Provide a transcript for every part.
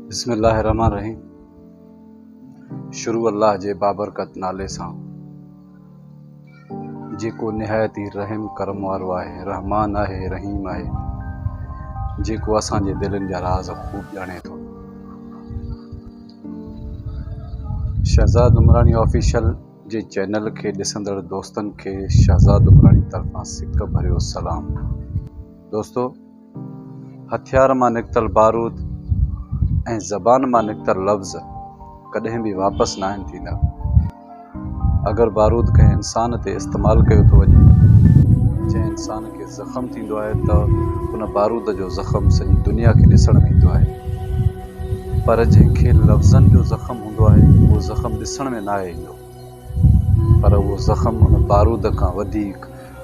بسم الله الرحمٰن الرحيم شروع الله جي بابرڪت نالي سان جيڪو نهايت ئي رحم ڪرم وارو آهي رحمان آهي رحيم آهي جيڪو اسان جي دلين جا راز خوب ڄاڻي ٿو شهزاد عمراڻي آفيشل جي چينل کي ڏسندڙ دوستن کي شهزاد عمراڻي طرفان سڪ ڀريو سلام دوستو هٿيار مان نڪتل بارود ۽ زبان مان نڪتل لفظ ڪڏهن به واپس ناهن ٿيندا. اگر بارود ڪنهن انسان تي استعمال ڪيو ٿو وڃي، جنهن انسان کي زخم ٿيندو آهي ته ان بارود جو زخم سڄي دنيا کي ڏسڻ ۾ ايندو آهي. پر جنهن کي لفظن جو زخم هوندو آهي، اهو زخم ڏسڻ ۾ ناهي ايندو. پر اهو زخم ان بارود کان وڌيڪ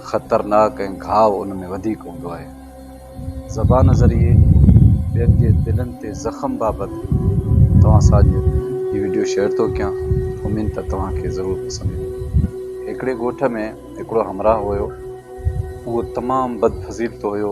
خطرناڪ ۽ گهاء ان ۾ وڌيڪ هوندو آهي. زبان ذريعي ٻين جي دلن تي زخم بابت توهان سان اڄ هي وڊيو شيئر ٿو ڪيان، اميد ته توهان کي ضرور پسند ايندو. هڪڙي ڳوٺ ۾ هڪڙو همراهه هيو، اهو تمام بدفضيلت هيو.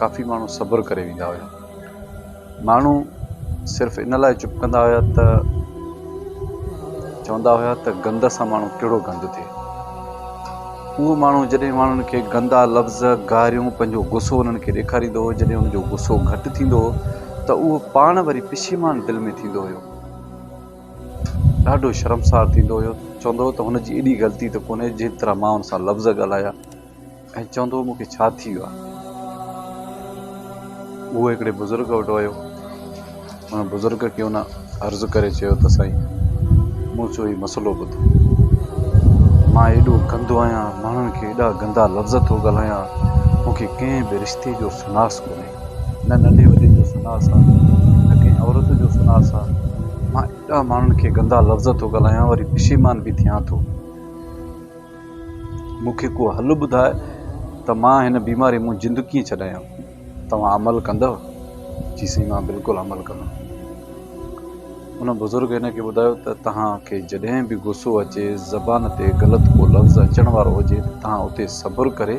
ڪافي ماڻهو صبر ڪري ويندا هيا ماڻهو صرف ان لاء چپ ڪندا هيا ته چوندا هيا ته گند سان ماڻهو ڪهڙو گند ٿئي اهو ماڻهو جڏهن ماڻهن کي گندا لفظ گاريون پنهنجو غصو انهن کي ڏيکاريندو هو جڏهن ان جو غصو گهٽ ٿيندو هو ته اهو پاڻ وري پشيمان دل ۾ ٿيندو هيو ڏاڍو شرمسار ٿيندو هيو چوندو هو ته هن جي ايڏي غلطي ته ڪونهي جنهن طرح مان ان سان لفظ ڳالهايا ۽ چوندو هو مون کي ڇا ٿي ويو آهي. هو هڪڙي بزرگ وٽ ويو ان بزرگ کي هن عرض ڪري چيو ته سائين مون جو هي مسئلو ٻڌو مان ايڏو گندو آهيان ماڻهن کي ايڏا گندا لفظ ٿو ڳالهايان مون کي ڪنهن به رشتي جو سناس ڪونهي نه ننڍي وڏي جو سناس آهي نه ڪنهن عورت جو سناس آهي مان ايڏا ماڻهن کي گندا لفظ ٿو ڳالهايان وري پشيمان به ٿيان ٿو. مون کي ڪو حل ٻڌاء ته مان هن بيماريء مون جند ڪيئن ڇڏايان؟ توهان عمل ڪندؤ؟ جي سائين مان بلڪل عمل ڪندم. ان بزرگ هن کي ٻڌايو ته توهان کي جڏهن به غصو اچي زبان تي غلط ڪو لفظ اچڻ وارو هجي ته توهان اتي صبر ڪري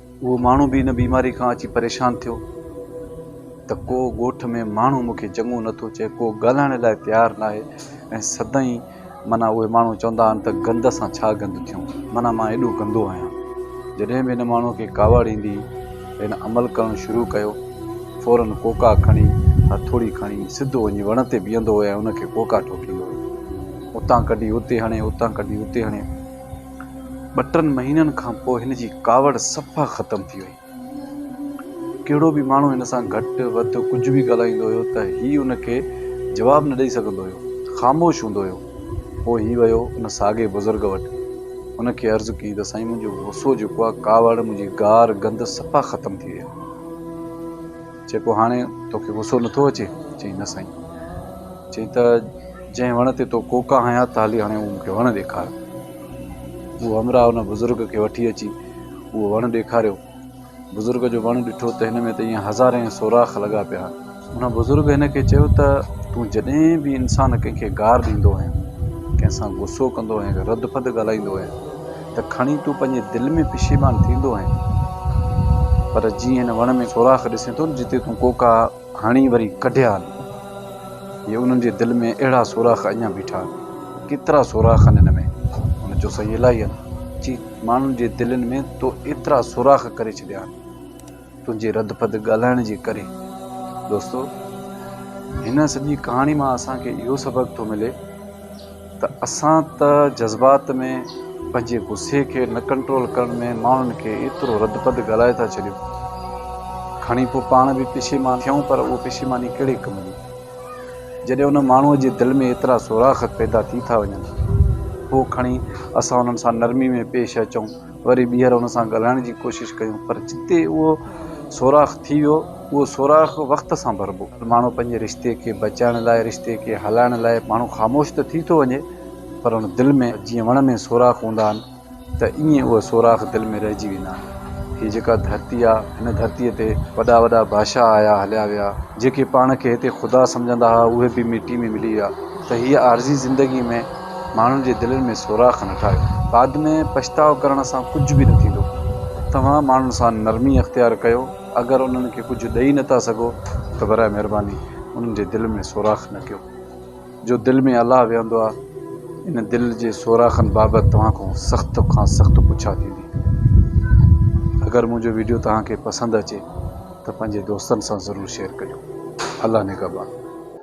اهو ماڻهو به ان بيماري کان اچي پريشان ٿيو ته ڪو ڳوٺ ۾ ماڻهو مون کي چڱو نٿو چئي ڪو ڳالهائڻ لاء تيار نه آهي ۽ سدائين معنيٰ اهي ماڻهو چوندا آهن ته گند سان ڇا گند ٿيون معنيٰ مان ايڏو گندو آهيان جڏهن به هن ماڻهوء کي ڪاوڙ ايندي هن عمل ڪرڻ شروع ڪيو فورن ڪوڪا کڻي هٿوڙي کڻي سڌو وڃي وڻ تي بيهندو هو ۽ ان کي ڪوڪا ٺوڪيندو هو اتان ڪڍي اتي هڻي اتان ڪڍي اتي هڻي ٻه ٽن مهينن کان پوء هن جي ڪاوڙ صفا ختم ٿي وئي. ڪهڙو به ماڻهو هن سان گهٽ وڌ ڪجهه به ڳالهائيندو هيو ته هي ان کي جواب نه ڏئي سگهندو هيو، خاموش هوندو هيو. پوء هي ويو ان ساڳئي بزرگ وٽ. ان کي عرض ڪئي ته سائين منهنجو غصو جيڪو آهي، ڪاوڙ، منهنجي گار گند صفا ختم ٿي وئي آهي. چئي پوء هاڻي توکي غصو نٿو اچي؟ چيائين نه سائين. چيائين ته جنهن وڻ تي تو ڪوڪا هنيا ته هلي هاڻي اهو مون کي وڻ ڏيکار. اهو همراهه ان بزرگ کي وٺي اچي اهو وڻ ڏيکاريو. بزرگ جو وڻ ڏٺو ته هن ۾ ته ايئن هزارين سوراخ لڳا پيا هئا. ان بزرگ هن کي چيو ته تون جڏهن به انسان ڪنهن کي گار ڏيندو هئين، ڪنهن سان غصو ڪندو هئين، رڌ پڌ ڳالهائيندو هئين، ته کڻي تون پنهنجي دل ۾ پشيمان ٿيندو آهين پر جيئن هن وڻ ۾ سوراخ ڏسين ٿو جتي تون ڪوڪا هڻي وري ڪڍيا آهن جي انهن جي دل ۾ اهڙا سوراخ اڃان بيٺا آهن ڪيترا سوراخ آهن هن ۾ هن چيو سائين الاهي آهن چي ماڻهن جي دلين ۾ تو ايترا سوراخ ڪري ڇڏيا آهن. تنهنجي رد پد ڳالهائڻ جي ڪري. دوستو هن سڄي ڪهاڻي مان اسان کي اهو سبق ٿو ملي ته اسان ته جذبات ۾ پنهنجي غصي کي نه ڪنٽرول ڪرڻ ۾ ماڻهن کي ايترو رد پد ڳالهائي ٿا ڇڏيون کڻي پوء پاڻ به پشيمان ٿيون پر اهو پشيماني ڪهڙي ڪم جي جڏهن ان ماڻهو جي دل ۾ ايترا سوراخ پيدا ٿي ٿا وڃن پوء کڻي اسان انهن سان نرمي ۾ پيش اچون. وري ٻيهر ان سان ڳالهائڻ جي ڪوشش ڪيون پر جتي اهو سوراخ ٿي ويو اهو سوراخ وقت سان ڀربو. ماڻهو پنهنجي رشتي کي بچائڻ لاء رشتي کي هلائڻ لاء ماڻهو خاموش ته ٿي ٿو وڃي پر ان دل ۾ جيئن وڻ ۾ سوراخ هوندا آهن ته ائين اهي سوراخ دل ۾ رهجي ويندا آهن. هي جيڪا ڌرتي آهي هن ڌرتي تي وڏا وڏا بادشاهه آيا هليا ويا جيڪي پاڻ کي هتي خدا سمجهندا هئا اهي به مٽي ۾ ملي ويا ته هيء عارضي زندگي ۾ ماڻهن جي دلين ۾ سوراخ نه ٺاهيو. بعد ۾ پڇتاء ڪرڻ سان ڪجهه به نه ٿيندو. توهان ماڻهن سان نرمي اختيار ڪيو. اگر انهن کي ڪجهه ڏئي نه ٿا سگهو ته برائي مهرباني انهن جي دل ۾ سوراخ نه ڪيو. جو دل ۾ الله ويهندو آهي. ان دل جي سوراخن بابت توهان کان سخت کان سخت پڇا ٿيندي. اگر منهنجو ويڊيو توهان کي پسند اچي ته پنهنجي دوستن سان ضرور شيئر ڪجو. الله نگهبان.